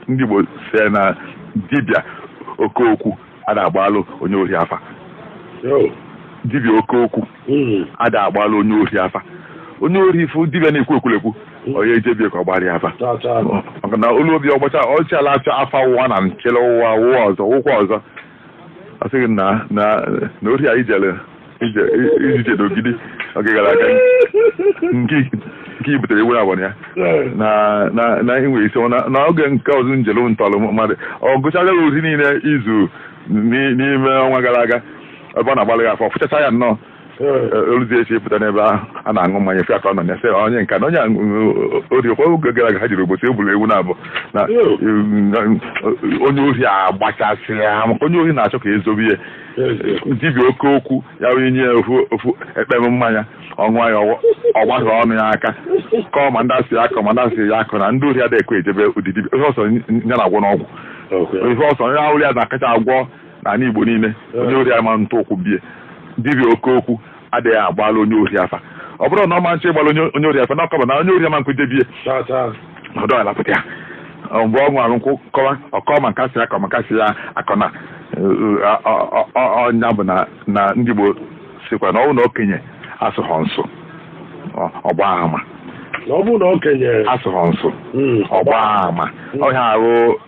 ndị Igbo si na dibịa oke okwu ada agbalụ onye ohi afa dibịa oke okwu hmm. ada agbalụ onye ohi afa onye ori fụ dibịa na-ekwu ekwurekwu hmm. ọ ya eje bie ka ọ gbara ya afa maka na o lu bie ọ gbacha ọchịala achọ afa ụwa na nchele ụwa ụwa ọzọ ụkwa ọzọ ọ sị gị na na na ori a i jere ije iji jede Ogidi oge gara aga nke nke i butere ewu abụọ ya na na na enwe isi na na oge nke ọzọ i jere ntọrọ mmadụ ọ gụchaa ori niile i zu ni- n'ime ọnwa gara aga ebe ọ na-agbalị gị afa fụchacha ya nnọọ o luzi echi pụta n'ebe ahụ a na-aṅụ mmanya si aka nọ ya sị onye nka na onye ori ọ kwa oge gara aga ha jere Obosi je buru ewu naabọ na onye ohi agbachasị ya maka onye ohi na-achọ ka e zobe ya dibịa oke okwu ya wee nye ofu ekpem mmanya ọ ṅụa ya ọ gbasa ọnụ ya aka kọọ ma ndị a sị ya kọọ ma ndị a sị ya akọna ndị ohi adịghị ekwe eje be ụdị dibịa ihe ọ sọ ya na-agwọ n'ọgwụ ihe ọ sọ ya wụrụ ya na-akacha agwọ n'ala Igbo niile onye ori ama ntụ ụkwụ bie dibịa oke okwu adịghị agbalụ onye ori afa ọ bụrụ na ọ ma nche ịgbalụ onye ori afa na ọ kọba na onye ori ama nkwe je bie ọdọ alapụta ya mgbe ọ ṅụrụ nkwụ kọwa ọ kọọ ma nke a sị kọọ ma nke a sị ya akọna ọ nya bụ na ndị Igbo sikwa na ọ bụrụ na okenye asụghọ nsụ ọ gbaa ama asụghọ nsụ ọ gbaa ama ọhịa ahụ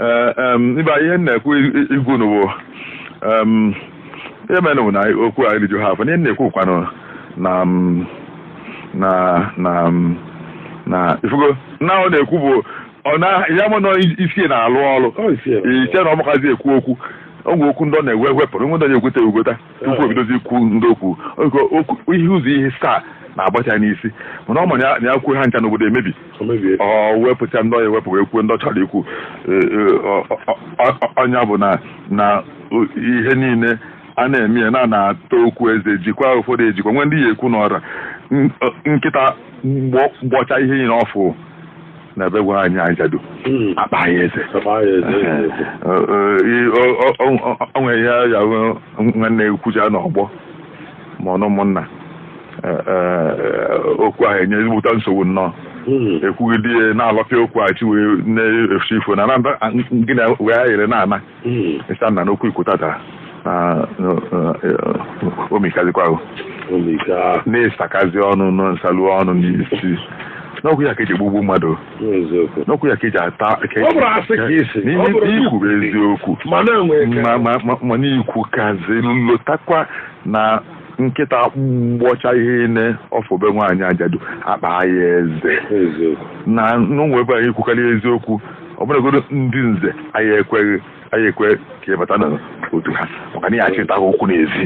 Ee, em, ibe anyị ihe m na-ekwu i- ịgwa unu bụ em, ihe mere bụ na anyị- okwu a eriju ha afọ ihe m na-ekwu kwanụ na m, na na m, na ifugo na ọ na-ekwu bụ ọ na ya mụ na isi na-alụ ọrụ Ọ isi ya. iche na ọ makazi ekwu okwu o nwe okwu ndị ọ na-ewe wepụrụ nwe ndị ọ na-ekwute ekwute tupu o bidozi ikwu ndị okwu ihe ụzọ ihe asaa na-agbata ya n'isi mana ọ ma na ya kwuo ha ncha n'obodo emebi ọ wepụcha ndị ọ ya-ewepụ wee kwuo ndị ọ chọrọ ikwu ọ nya bụ na na ihe niile a na-eme ya na na-ata okwu eze jikwa ụfọdụ ejikwa nwee ndị ya ekwu n'ọra nkịta gbọcha ihe niile ọ fụ na ebe nwaanyị ajadu Mm. a kpaa ya eze a kpaa ya eze, eze, eze. Ọ- ọ- i- ọ- ọ- ọ- ọ- ọ nwere ihe ya wụ gị na-ekwucha n'ọgbọ ma ọ n'ụmụnna Eh, eh, okwu ahụ enye ezigbote nsogbu nnọọ Mm. ekwugide na-alọpịa okwu a chi wee na-efu ifo na na gị na wee ayere na-ana hmm. ị sị a nna n'okwu i kwu taata o mikazikwa ahụ na ị sakazi ọnụ nọ nsalu ọnụ n'isi n'okwu ya ka eji egbugbu mmadụ n'okwu ya ka eji ata n'i kwu eziokwu mana i kwukazi lotakwa na nkịta gbọcha ihe niile ọ fụ be nwaanyị ajadu a kpaa ya eze na n'ụmụ ebe anyị kwukarị eziokwu ọ bụrụgodo ndị nze anyị ekwe anyị ekwe ka ị bata na otu ha maka na ị ya-achịta ha okwu n'ezi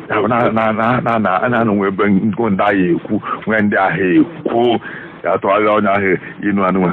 na nwee ebe ndị ahụ ekwu nwee ndị ahụ ekwu ya atụala onye ahụ inu anụnwa